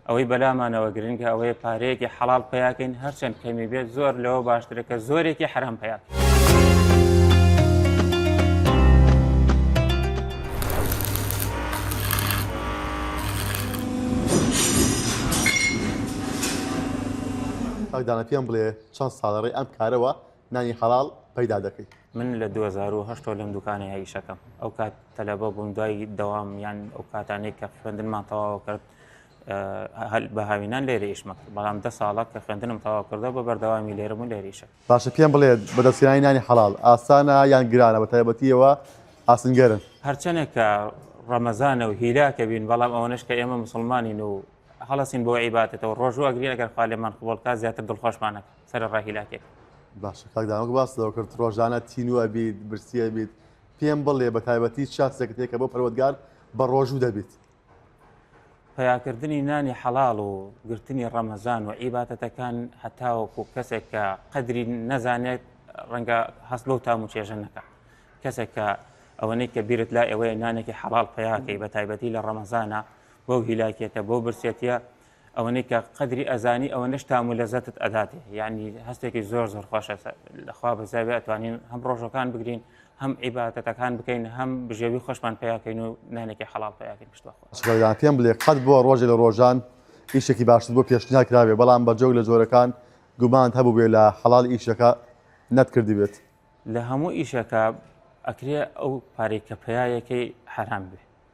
ئەوەی بەلامانەوە گرنگە ئەوەیە پارەیەکی حەڵال پیاکەین هەرچەند کەمی بێت زۆر لەوە باشترەکە زۆرێکی حرام پیاکەین. کاک دانا پێم بڵێ چەند ساڵە ڕێ ئەم کارەوە نانی حەڵاڵ پەیدا دەکەی. من لە دوو هەزار و هەشت ەوە لەم دوکانەیە ئیشەکەم ئەو کات تەلەبە بووم دوای دەوام یان ئەو کاتانەی کە خوێندنمان تەواوە کرد بە هاوینان لێرە ئیشمە بەڵام دە ساڵە کە خوێندنم تەواو کردە بە بەردەوامی لێرە بوو لێریشە باشە پێم بڵێت بەدەستێنانی نانی حەڵال ئاسانە یان گرانە بە تایبەتیەوە ئاسنگەرن هەرچەنێک کە ڕەمەزانە و هیلاکە بین بەڵام ئەوەنش کە ئێمە مسلمانین و هەڵسین بۆ عیباتەوە ڕۆژوە گرێگەر خالێمان قوڵکە زیاتر دڵخۆشمانەکە سەرڕای هیلاکێک باشە کاک داوەک باس لەوە کرد ڕۆژانە تینوە بیت برسیە بیت پێم بڵێ بە تایبەتی شاتێکت هەیە کە بۆ پەروەگار بە ڕۆژوو دەبیت پیاکردنی نانی حەڵاڵ و گرتنی ڕەمەزان و عیباتەتەکان هەتاوەکو کەسێک کە قەدری نەزانێت ڕەنگە هەست بەو تام و چێژە نەکە کەسێک کە ئەوەنەی کە بیرت لا ئەوەیە نانێکی حەڵال پیاکەی بە تایبەتی لە ڕەمەزانە بەو هیلاکێتە بۆ برسێتە ئەوەنەی کە قەدری ئەزانی ئەوەنەش تام و لەزەتت ئەداتێ یعنی هەستێکی زۆر زۆر خۆشە لەخوا بەزاوی ئەتوانین هەم ڕۆژەکان بگرین هەم عیباتەتەکان بکەین هەم بژێوی خۆشمان پیاکەین و نانێکی حەڵال پیاکەین پشتوەخۆ پێم بڵێ قەت بۆ ڕۆژێ لە ڕۆژان ئیشێکی باشتر بۆ پێشناکراوێ بەڵام بە جۆگ لە جۆرەکان گومانت هەبوو بێ لە حەڵال ئیشەکە نەتکردی بێت لە هەموو ئیشەکە ئەکرێ ئەو پارێک کە پیاەکەی حرام بێ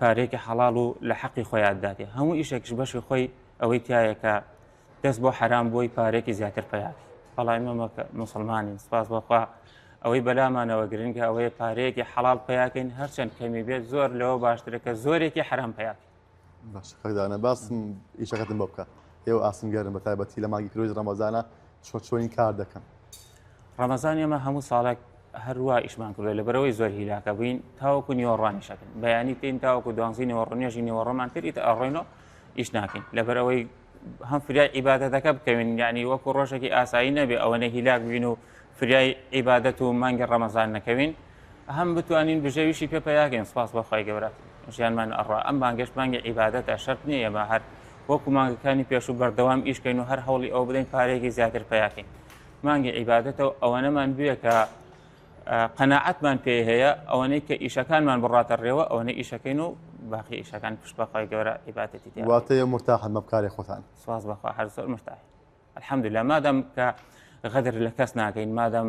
پارەیەکی حەڵاڵ و لە حەقی خۆیان دادێ هەموو ئیشێکش بەشی خۆی ئەوەی تایە کە دەست بۆ حەرام بۆی پارێکی زیاتر پیاات بەڵای مەمە مسلمانین سپاس بەخوا ئەوەی بەلامانەوە گرنگە ئەوەیە پارەیەکی حەڵال پیاکەین هەرچەند کەمی بێت زۆر لەوە باشترەکە زۆرێکی حرام پیاک باشدانە باسم ئیشەکەتم بۆ بکە ئێوە ئاسنگەرن بە تایبەتی لە ماگی کرۆی ڕەمەزانە چۆ چۆنی کار دەکەن ڕەمەزان ئێمە هەموو ساڵێک هەروە ئیشمان کردو لە بەرەوەی زۆر هیلاکە بووین تاوەکو نیوەڕوانی شەکن بەیانی تین تاوەکو دوانزی نیوەڕنێژی نیوەڕۆمان تریت ئەڕۆینەوە ئیش ناکەین لە بەرەوەی هەم فریای عیباەتەکە بکەوین ینی وەکو ڕۆژێکی ئاسایی نەبێ ئەوە نە هیلاک بوین و فریای عیباەت و مانگە ڕەمەزان نەکەوین هەم بتوانین بژێویشی پێ پیاکەین سپاس بەخوای گەورە ژیانمان ئەڕا ئەم بانگەش مانگی عیباەتە شەرت نیە ئێمە هەر وەکو مانگەکانی پێش و بەردەوام ئیشکەین و هەر هەوڵی ئەو بدەین پارێکی زیاتر پیاکەین مانگی عیبادەتە و ئەوەنەمان بوێ کە قەنەعەتمان پێ هەیە ئەوەنەی کە ئیشەکانمان بڕاتە ڕێوە ئەوەنە ئیشەکەین و باقی ئیشەکان پشت بەخوای گەورە عیباتەتی واتەیە مرتاحن مەبکاری خۆتان سواز بەخوا هەر زۆر مرتاح الحمد لە مادەم کە غەدر لە کەس ناکەین مادەم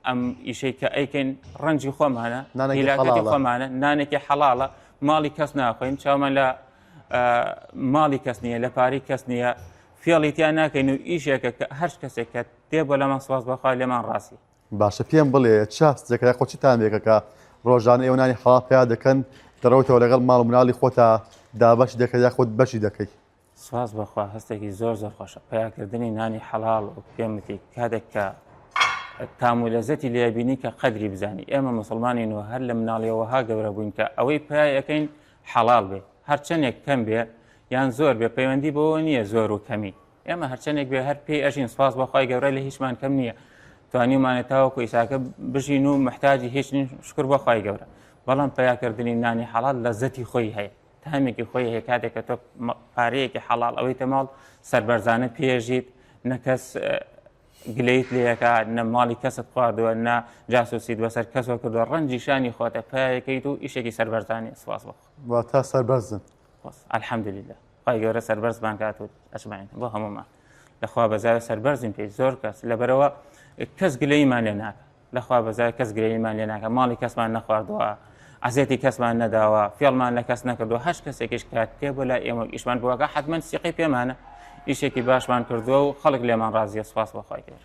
ئەم ئیشەی کە ئەیکەین ڕەنجی خۆمانە نانەکەی خۆمانە نانێکی حەڵاڵە ماڵی کەس ناخۆین چاومان لە ماڵی کەس نییە لە پاری کەس نییە فێڵی تیا ناکەین و ئیشێکە کە هەرچ کەسێک کە تێ بۆ لەمان سواز بەخوا لێمان ڕاستی باشە پێم بڵێ چاس جێکرای خۆچی تامێکەکە ڕۆژان ئێوەنانی حڵا پیا دەکەن دەڕۆیتەوە لەگەڵ ماڵ مناڵی خۆتا دابش دەکە یا خۆت بەشی دەکەی سواز بەخوا هەستێکی زۆر زۆر خۆشە پیاکردنی نانی حەڵال و پێمتی کاتێک کە تام و لەزەتی لێبینی کە قەدری بزانانی ئێمە مسلمانین و هەر لە مناڵیەوەها گەورە بووین کە ئەوەی پیاەکەین حەڵاڵ بێ هەرچەنێک کەم بێ یان زۆر بێ پەیوەندی بەوە نییە زۆر و کەمی ئێمە هەرچەنێک بێ هەر پێی ئەژین سپاس بەخوای گەورە لە هیچمان کەم نییە توانیمانە تاوەکو ئیساکە بژین و محتاجی هیچ شکر بەخوای گەورە بەڵام پیاکردنی نانی حەڵات لە زەتی خۆی هەیە تامێکی خۆی هەیە کاتێکە تۆ پارەیەکی حەڵال ئەوەی تەماڵ سربەرزانە پێژیت نەکەس گلەیت لەکە نە ماڵی کەست خواردووە نە جاسوسیت بەسەر کەسەوە کردووە ڕەنجی شانی خۆتە پایەکەیت و ئیشێکی سەربەرزانانی سواز بۆ تا سەربەرزن ئەلحەمدلیدا خی گەورە سەربەرزمان کات و ئەسمانین بۆ هەمومان لەخوا بەزار سەربەرزین پێی زۆر کەس لەبەرەوە کەس گلەیمان لێ ناکە لەخوا بەزای کەس گرێویمان لێ ناکە ماڵی کەسمان نەخواردووە عزێتی کەسمان نەداوە فێڵمان لە کەس نەکردو هەش کەسێکیش کات پێ بۆ لای ئێمە ئیشمان بۆگە حتمما سیقی پێمانە ئیشێکی باشمان کردووە و خەڵک لێمان ڕازیە سپاس بەخوای کرد.